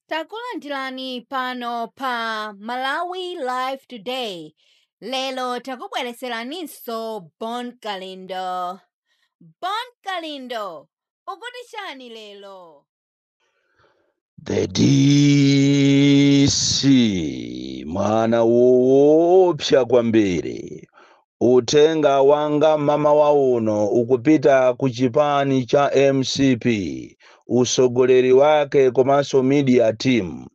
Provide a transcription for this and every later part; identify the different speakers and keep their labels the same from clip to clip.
Speaker 1: takulandirani pano pa malawi live today lero takubwereseraninso bon kalindo bon kalindo ukuti chani lero
Speaker 2: The DC mwana woopsa kwambiri Uthenga wanga mmamawa uno ukupita ku chipani cha mcp, usogoleri wake komanso media team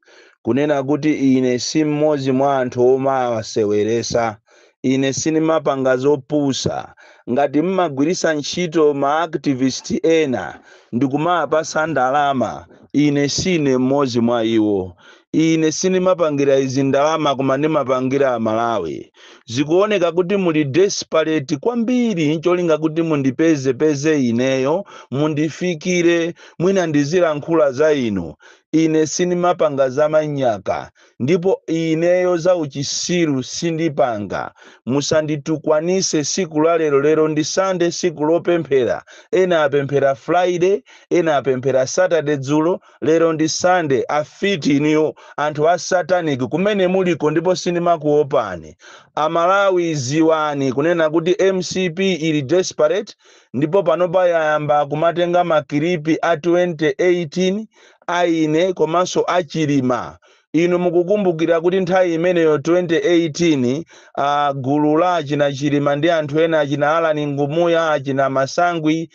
Speaker 2: kunena kuti ine si mmodzi mwa anthu omawaseweresa, ine sinimapanga zopusa ngati mmagwirisa ntchito ma activist ena ndikumawapasa ndalama ine sine mmodzi mwa iwo Ine sinimapangira izi ndalama koma ndimapangira amalawi. Zikuoneka kuti muli desperate kwambiri ncholinga kuti mundipeze peze ineyo mundifikire mwina ndizilankhula za inu. Ine sindimapanga za manyaka ndipo ineyo za uchisiru sindipanga. Musanditukwanise siku la lero lero ndi Sunday siku lopemphera ena apemphera Friday ena apemphera Saturday dzulo Lero ndi Sunday afiti inuyo anthu a satanic kumene muliko ndipo sindimakuopani. A Malawi ziwani kunena kuti mcp ili desperate ndipo panopa yayamba kumatenga ma kilipi a 2018 a ine komanso a Chilima Inu mukukumbukira kuti nthawi imeneyo 2018, a, gulu la achina Chilima ndi anthu ena achina Allan Ngumuya, achina Masangwi,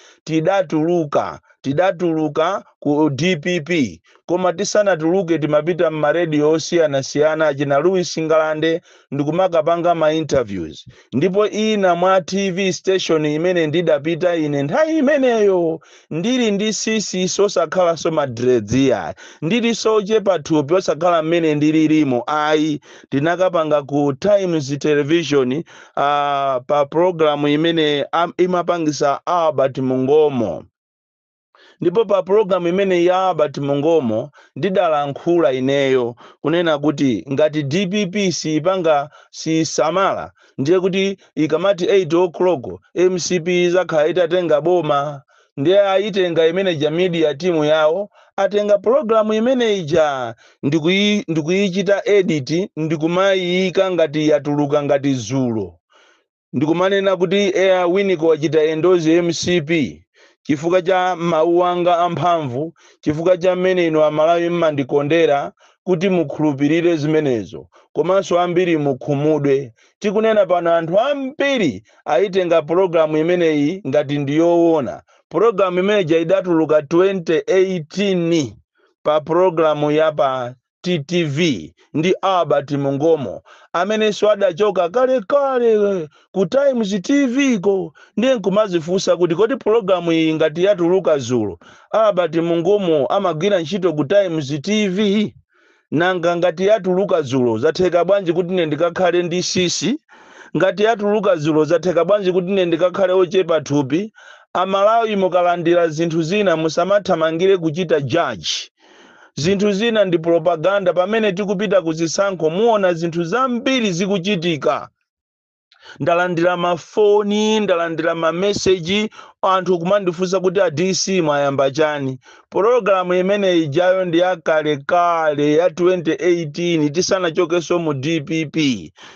Speaker 2: tidatuluka ku dpp. Koma tisanatuluke timapita m'maradio osiyanasiyana, achina Louis Ngalande, ndikumakapanga ma interviews ndipo ina mwa tv station imene ndidapita ine nthawi imeneyo ndili ndi sisi so osakhalanso madredziwa ndili so ochepa thupi osakhala mmene ndililimu ayi ndinakapanga ku times television uh, pa programu imene am- imapangisa albert mungomo ndipo pa pulogalamu imene ya Albert Mungomo ndidalankhula ineyo kunena kuti ngati dpp siipanga siisamala ndiye kuti ikamati 8 o'clock mcp izakhala itatenga boma ndiye ayitenga imeneja media timu yawo atenga pulogalamu imene ija ndikuyi- ndikuyichita edit ndikumaiika ngati yatuluka ngati zulo ndikumanena kuti a Winiko wachita endorse mcp chifukwa cha mawu anga amphamvu, chifukwa cha mmene inu Amalawi mmandikondera kuti mukhulupirire zimenezo komanso ambiri mukhumudwe. Tikunena pano anthu ambiri ayitenga pulogalamu imeneyi ngati ndi yowona. Pulogalamu imene ija idatuluka 2018 pa pulogalamu ya pa TTV, ndi Albert Mungomo, amenenso adachoka kalekale ku Times TV ko, ndiye nkumadzifunsa kuti kodi pulogalamu iyi ngati yatuluka dzulo, a Albert Mungomo amagwira ntchito ku Times TV? Nanga ngati yatuluka dzulo, zatheka bwanji kuti ine ndikakhale ndi sisi? Ngati yatuluka dzulo, zatheka bwanji kuti ine ndikakhale wochepa thupi? Amalawi mukalandira zinthu zina musamathamangire kuchita judge. Zinthu zina ndi propaganda. Pamene tikupita ku zisankho, muona zinthu zambiri zikuchitika. Ndalandira mafoni, ndalandira mameseji, anthu kumandifunsa kuti a DC mwayamba chani. Pologalamu imene ijayo ndi yakalekale ya 2018 tisanachokenso mu DPP.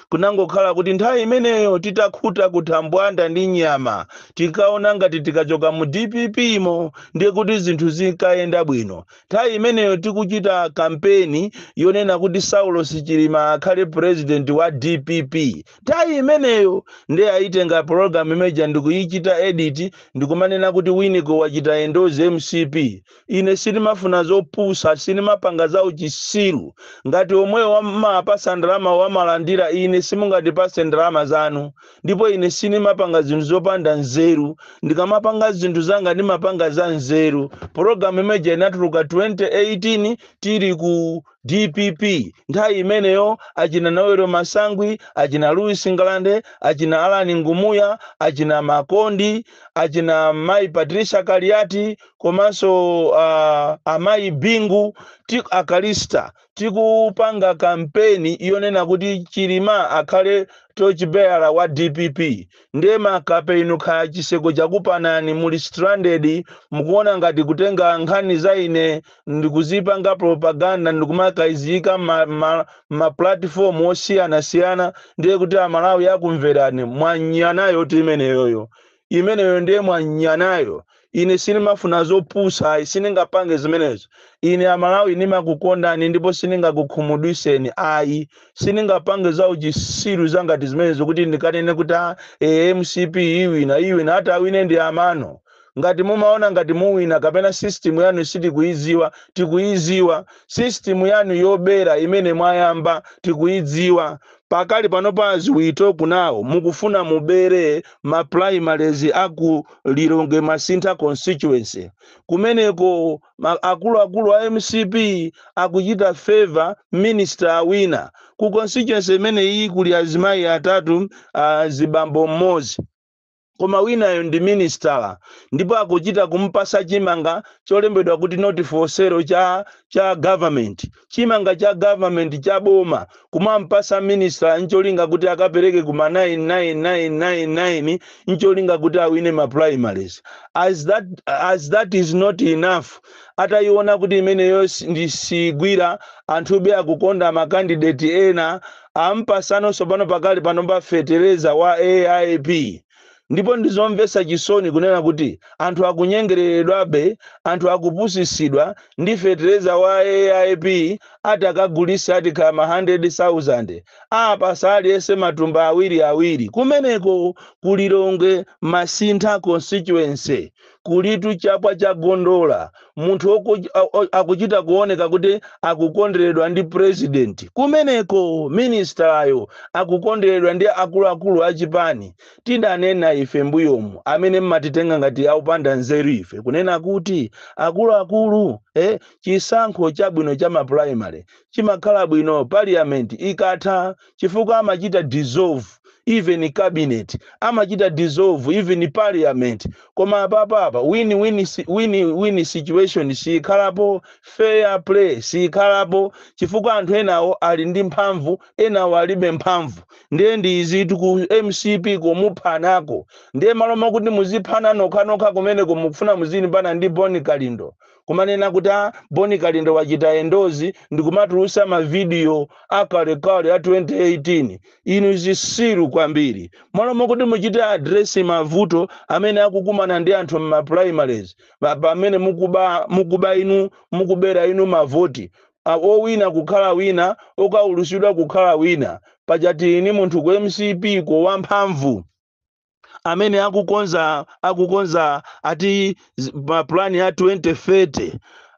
Speaker 2: Kunangokhala kuti nthawi imeneyo titakhuta kuthambwanda ndi nyama, tinkaona ngati tikachoka mu dpp mo ndiye kuti zinthu zikayenda bwino. Nthawi imeneyo tikuchita kampeni yonena kuti Saulos Chilima akhale president wa dpp. Nthawi imeneyo nde ayitenga program imeja ndikuyichita edit ndikumanena kuti Winiko wachita endorse mcp. ine sindimafuna zopusa sindimapanga za uchisiru ngati omwewo owamapasa ndalama wamalandira ine simungatipase ndalama zanu ndipo ine sindimapanga zinthu zopanda nzeru ndikamapanga zinthu zanga ndimapanga za nzeru pologalamu imeja inatuluka 2018 tili ku dpp nthawi imeneyo achina noel masangwi achina louis ngalande achina alani ngumuya achina makondi achina mayi patricia kaliati komanso uh, amayi bingu a callista tikupanga kampeni yonena kuti chilima akhale torchbearer wa dpp ndiye makape inu kaya chisankho chakupanani muli stranded mukuona ngati kutenga nkhani za ine ndikuzipanga propaganda ndikumakayiziyika ma, ma, ma platform osiyanasiyana ndiye kuti amalawi akumverani mwanyanayo kuti imeneyoyo imeneyo ndiye mwanyanayo ine sindimafuna zopusa ayi sindingapange zimenezo ine amalawi ndimakukondani ndipo sindingakukhumudwiseni ayi sindingapange za uchisiru zangati zimenezo kuti ndikanene kuti a e, mcp iwina iwina itawina ndi amano Ngati mumaona ngati muwina kapena system yanu sitikuidziwa, tikuidziwa. System yanu yobera imene mwayamba tikuidziwa. Pakali panopa as we talk now mukufuna mubere ma primaries a ku Lilongwe Masintha constituency. Kumeneko akuluakulu a mcp akuchita favour minister awina. Ku constituency imeneyi kuli azimayi atatu, azibambo mmodzi. koma winayo ndi minisitala ndipo akuchita kumpasa chimanga cholembedwa kuti not for sale cha government chimanga cha government cha boma kumampasa minisitala ncholinga kuti akapereke kuma 9999 ncholinga kuti awine ma primaries as that is not enough atayiona kuti imeneyo ndi siigwira anthube akukonda makandideti ena ampasano tsopano pakali panopa fetereza wa AIP ndipo ndizomvetsa chisoni kunena kuti anthu akunyengereredwabe, anthu akupusitsidwa ndi fetereza wa AIP ati akagulitse ati kaya ma hundred thousand, apatsa aliyense matumba awiri awiri kumeneko ku Lilongwe Masintha Constituency Kulitu chapwa cha gondola, munthu akuchita kuoneka kuti akukonderedwa ndi president kumeneko, ministerayo akukonderedwa ndi akuluakulu a chipani. Tidanena ife mbuyomu amene mmatitenga ngati aupanda nzeru ife kunena kuti akuluakulu eh, chisankho chabwino cha ma primary chimakhala bwino parliament ikatha. chifukwa amachita dissolve even cabinet, amachita dissolve even parliament, koma apapa apa win win situation siyikhalapo, fair play siyikhalapo chifukwa anthu enawo ali ndi mphamvu enawo alibe mphamvu ndiye ndi izitu ku mcp komuphanako ndiye malo mokuti muziphana nokhanokha kumeneko mukufuna muzilimbana ndi bon kalindo kumanena kuti a bon kalindo wachita endozi ndikumatulusa mavidiyo akalekale a 2018 inu zisiru kwambiri malo mokuti muchite adresi mavuto amene akukumana ndi anthu m'maprimaries pamene mukuba inu mukubera inu mavoti owina kukhala wina okaulutsidwa kukhala wina pachati ini munthu ku mcp ko wamphamvu amene akukonza akukonza ati mapulani ya 2030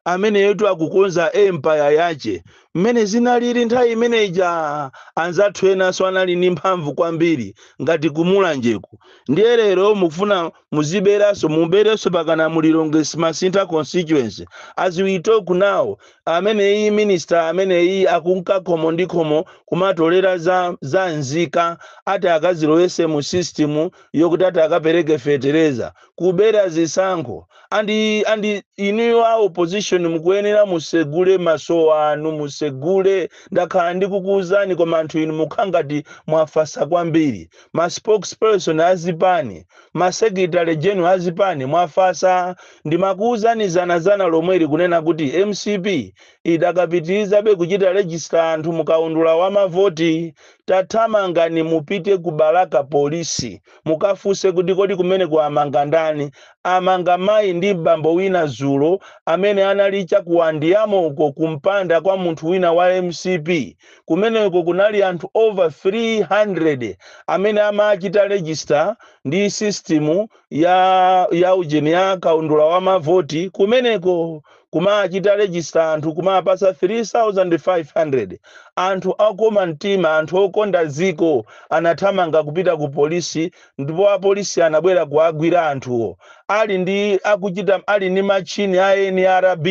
Speaker 2: ameneyotu akukonza empaya yace mmene zinalili nthawi imene ija anzathu enanso anali ndi mphamvu kwambiri ngati kumulanjeku ndiye lero mukufuna muziberanso muberenso pakana mu lilongwe masintha constituency as we talk now ameneyi minister ameneyi akunka khomo ndi khomo kumatolera za, za nzika ati akazilowese mu system yokuti ati akapereke fetereza kubera zisankho andi andi inuyo a opposition mukuyenera musegule maso anu musegule ndakhala ndikukuuzani koma anthu inu mukhala ngati mwafasa kwambiri ma spokesperson azipani ma secretary general azipani mwafasa Ndimakuuzani zanazana lomweli kunena kuti mcp idakapitirizabe kuchita register anthu mu kaundula wa mavoti. Tathamangani mupite ku Balaka Police mukafunse kuti kodi kumeneko amanga ndani? Amanga mayi ndi bambo wina dzulo amene anali cha ku Andiamo uko kumpanda kwa munthu wina wa mcp. Kumeneko kunali anthu over 300 amene amachita register ndi system. ya ya ujeni ya kaundula wa mavoti kumeneko kumachita register anthu kumapasa 3500 anthu okoma mtima anthu okonda dziko anathamanga kupita ku polisi ndipo apolisi anabwera kuwagwira anthuwo ali ndi akuchita ali ndi machini a nrb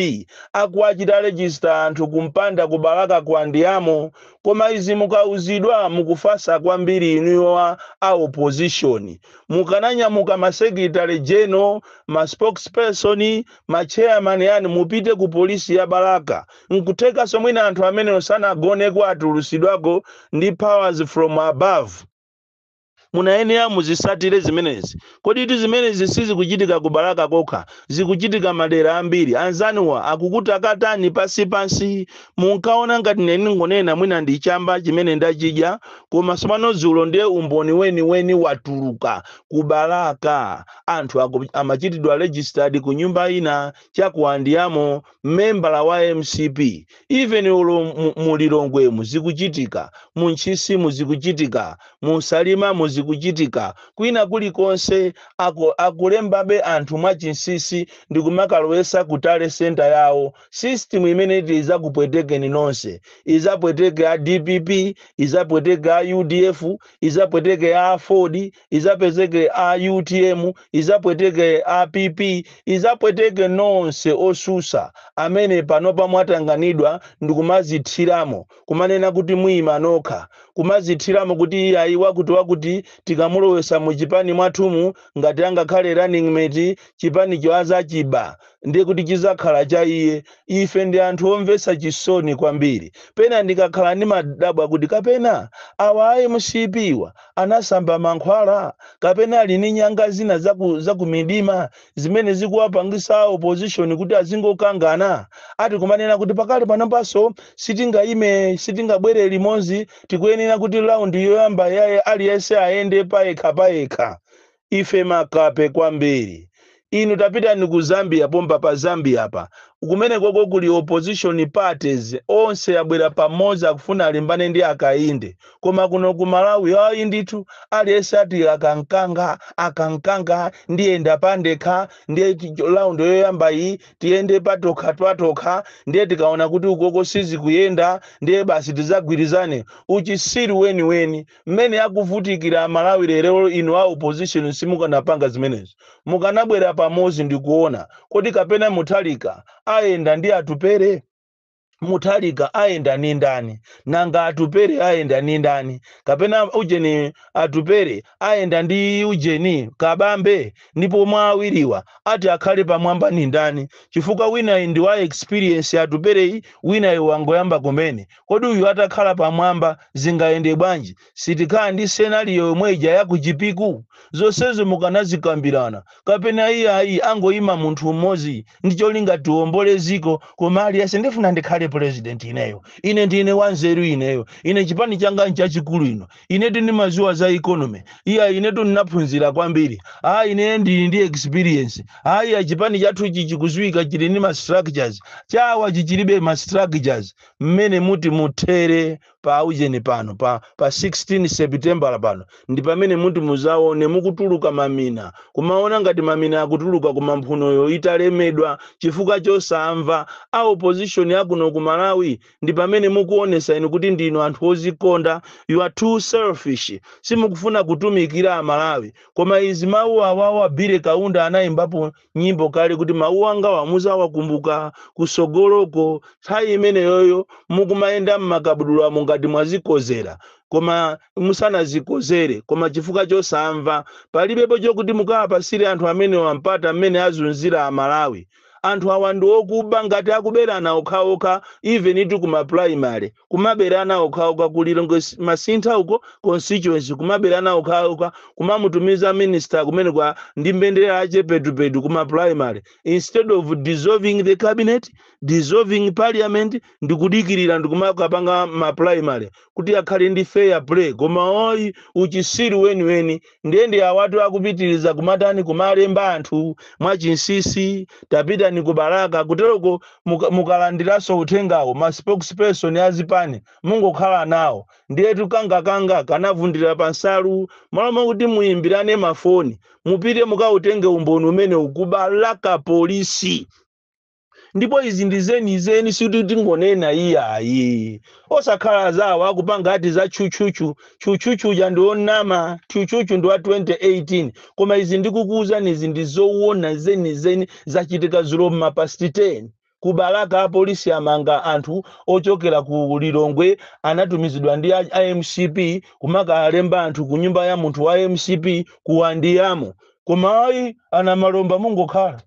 Speaker 2: akuwachita register anthu kumpanda ku balaka ku andiamo koma izi mukauzidwa mukufasa kwambiri inuyo a a opposition mukananyamuka ma secretary general, ma spokesperson, ma chairman yani mupite ku police ya Balaka. Nkuthekaso mwina anthu amenewo sanagoneko atulusidwako ndi powers from above. Munayenera muzisatire zimenezi. Koditu zimenezi sizikuchitika ku Balaka kokha, zikuchitika madera ambiri. Anzanuwa akukutakatani pansi pansi. Munkaona ngati ine ndingonena mwina ndi chamba chimene ndachidya koma tsopano dzulo ndiye umboni weniweni watuluka ku Balaka anthu aku, amachitidwa registered ku nyumba ina cha ku Andiamo membala wa mcp even olo mu, mu Lilongwemu zikuchitika mu Ntchisimu zikuchitika mu Salimamu zikuchitika kwina kulikonse aku, akulembabe anthu mwachinsisi ndikumakalowesa ku tally center yawo System imene iti izakupwetekeni nonse, izapweteke a dpp, izapweteke a udf, izapweteke a aford, izapweteke a utm, izapweteke a pp, izapweteke nonse osusa amene panopa mwatanganidwa ndikumazithiramo kumanena kuti muima nokha, kumazithiramo kuti iyayi wakuti wakuti tikamulowesa mu chipani mwathumu ngati angakhale running mate chipanicho azachiba. ndiye kuti chidzakhala cha iye. Ife ndi anthu omvetsa chisoni kwambiri. Pena ndikakhala ndimadabwa kuti kapena awa a mcp wa anasamba mankhwala kapena ali ndi nyanga zina zaku, zakumidima zimene zikuwapangisa a opposition kuti azingokangana ati kumanena kuti pakali panopanso sitingayime sitingabwere limodzi tikuyenera kuti round yoyamba yaye aliyense ayende payekha payekha Ife makape kwambiri. Inu tapitani ku Zambia pompa pa Zambia apa. Kumenekoko kuli opposition parties onse abwera pamodzi akufuna alimbane ndi Hakainde. Koma kuno ku Malawi ayi ndithu aliyense ati aka nkanga, aka nkanga, ndiyenda pandekha, ndiye round yoyamba iyi tiyende patokha patokha, ndiye tikaona kuti ukoko sizikuyenda ndiye basi tidzagwirizane. Uchisiru weniweni. mmene akuvutikira amalawi lero inu a opposition simukanapanga zimenezo mukanabwera pamozi ndikuona kodi kapena muthalika ayenda ndi atupere muthalika ayenda ni ndani nanga atupere ayenda ni ndani kapena ujeni atupere ayenda ndi ujeni kabambe ndipo mwa awiriwa ati akhale pamwamba ni ndani chifukwa winayi ndi wa experience atupereyi winayi wangoyamba kumene Kodi uyu atakhala pamwamba zingayende bwanji? Sitikhala ndi scenario yomwe ija ya ku Chipiku? Zonsezo mukanazikambirana. Kapena iyayi angoima munthu m'modzi ndi cholinga tiwombole dziko koma aliyense ndifuna ndikhale president ineyo, ine ndine wanzeru ineyo, ine chipani changa nchachikulu ino, inetu ndimadziwa za economy, iyayi inetu ndinaphunzira kwambiri, aa ine ndili ndi experience, aa iya chipani chathuchi chikudziwika chili ndi ma structures, chawachi chilibe ma structures. mmene muti muthere pa aujeni pano pa, pa 16 sepitembala pano ndi pamene muti muzaone mukutuluka mamina kumaona ngati mamina akutuluka kumamphunoyo italemedwa chifukwa chosamva a opposition akuno ku malawi ndi pamene mukuonesa inu kuti ndinu anthu ozikonda you are too selfish simukufuna kutumikira amalawi koma izi mawu awawa bile kaunda anayimbapo nyimbo kale kuti mawu angawa muzawakumbuka kusogoloko nthawi imeneyoyo mukumayenda mmakabudulamo ngati mwazikozera koma musanazikozere koma chifukwa chosamva palibepo chokuti mukawapasire anthu amenewa mpata mmene azunzira amalawi anthu awa ndi okuba ngati akuberana okhaokha even itu kuma primary kumaberana okhaokha ku lilongwe masintha uko constituency kumaberana okhaokha kumamutumiza minister kumene kwa ndi mbendera ache petupetu kuma primary instead of dissolving the cabinet dissolving parliament ndikudikirira ndikumakapanga ma primary kuti akhale ndi fair play koma ayi uchisiru weniweni ndiye ndi awatu akupitiriza kumatani kumalemba anthu mwachinsisi tapitani ku balaka kuteroko mukalandiranso uthengawo ma spokesperson a zipani mungokhala nawo ndiye tu kangakanga kanavundira pa nsalu malo mwakuti muyimbirane mafoni mupite mukautenge umboni umene uli ku balaka polisi ndipo izi ndi zenizeni sikuti tingonena iyayi osakhala zawo akupanga ati za tchutchutchu tchutchutchuja ndi onama tchutchutchu ndi wa 2018 koma izi ndikukuwuzani izi ndi zowona zenizeni zachitika zulo mmapasti 10 ku balaka apolisi amanga anthu ochokera ku lilongwe anatumizidwa ndi a mcp kumakalemba anthu ku nyumba ya munthu wa mcp ku andiyamo koma ayi a namalomba mungokhala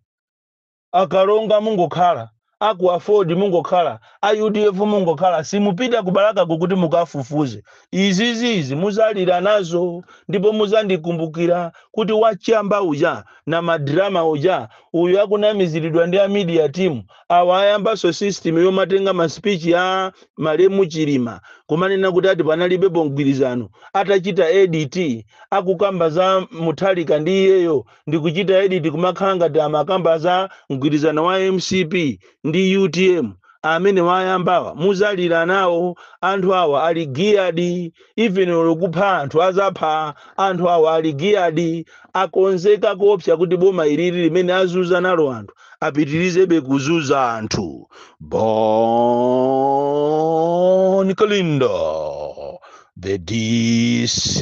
Speaker 2: A Kalonga mungokhala, a ku aford mungokhala, a udf mungokhala simupita ku Balakako kuti mukafufuze. Izizi izi muzalira nazo ndipo muzandikumbukira kuti wachamba uja na ma drama uja uyu akunamizilidwa ndi a media team awa ayambanso system yomatenga ma speech ya malemu Chilima kumanena kuti ati panalibepo mgwirizano atachita edit akukamba za Mutharika ndi iyeyo ndikuchita edit kumakhala ngati amakamba za mgwirizano wa mcp ndi utm amene ayambawa muzalira nawo anthu awa ali geared even olo kupha anthu azapha anthu awa ali geared akonzeka koopsa kuti boma ilili limene azuza nalo anthu apitirizebe kuzuza anthu bon kalindo the dc